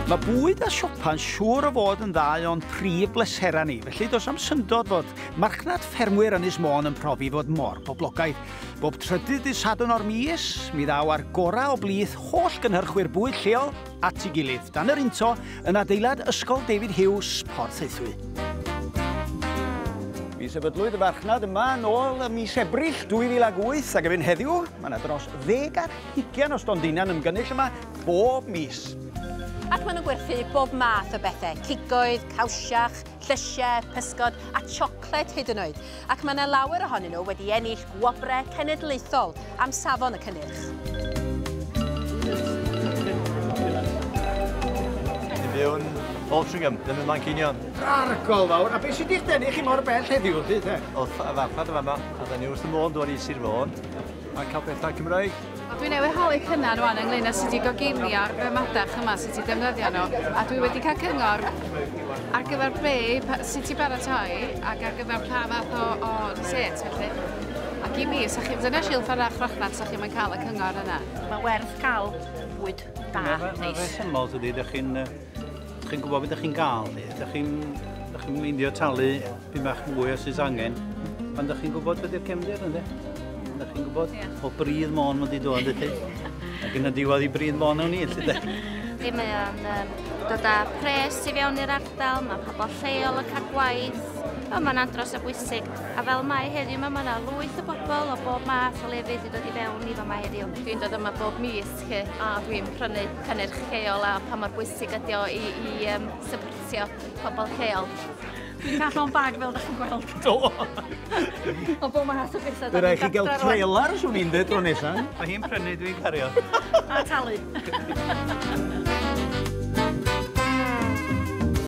Mae bwyd a siopa'n siŵr o fod yn ddau o'n prif bleserau ni, felly does am syndod fod marchnad ffermwyr Ynys Môn yn profi fod mor boblogaidd. Bob trydydd dydd Sadwrn o'r mis, mi ddaw ar gorau o blith holl gynhyrchwyr bwyd lleol at ei gilydd dan yr into yn adeilad Ysgol David Hughes, Porth Eithwy. Mi sefydlwyd y marchnad yma yn ôl y mis Ebrill 2008 ac efo'n heddiw, Mae yna dros ddeg ar hugain o stondinau'n ymgynnull yma bob mis. Ac maen nhw'n gwerthu bob math o bethau, cigoedd, cawsiach, llysiau, pysgod a siocled hyd yn oed. Ac mae yna lawer ohonyn nhw wedi ennill gwobrau cenedlaethol am safon y cynnyrch. Mewn Altringham, ddim yn Manceinion. Argol fawr, a beth sydd wedi'ch denu chi mor bell heddiw, Rhydd? Oedd farchnad yn fan'na, a dda ni wrth y modd dod i Sir Fôn. a cael pethau Cymraeg. Dwi newydd holi cynnar rwan ynglyn â sut i goginio'r be madach yma, sut i defnyddio nhw, a dwi wedi cael cyngor ar gyfer be, sut i baratoi ac ar gyfer pa fath o, o reset felly. Ac i mi, sa chi, dyna Sil Farach Rochnant, sa chi'n cael y cyngor yna. Mae werth cael bwyd da, neis. Mae'n rhesymol, tydi, ydych chi'n chi gwybod beth ydych chi'n gael, ydych chi'n meindio talu Pyn bach mwy os oes angen, pan da chi'n gwybod beth yw'r cefndir, ynddo? Da chi'n gwybod? Yeah. O bryd mon mae'n di dod, ydy. Ac yn y diwedd i bryd mon o'n i, ydy de? Di mae o'n um, dod â pres i fewn i'r ardal, mae pobl lleol yn cael gwaith, o, mae'n andros o bwysig. A fel mae heddiw yma, mae yna lwyth o bobl o bob math o lefydd i dod i fewn i fama heddiw. Dwi'n dod yma bob mis chi, a dwi'n prynu cynnyrch lleol a pa mor bwysig ydi o i, i um, supportio pobl lleol. Dwi'n cael llon bag fel da chi'n gweld. Do! o bo math o bethau. Fe rai chi gael trailer, swn i'n dweud, tro nesaf. Mae hi'n prynu, dwi'n cario. A talu.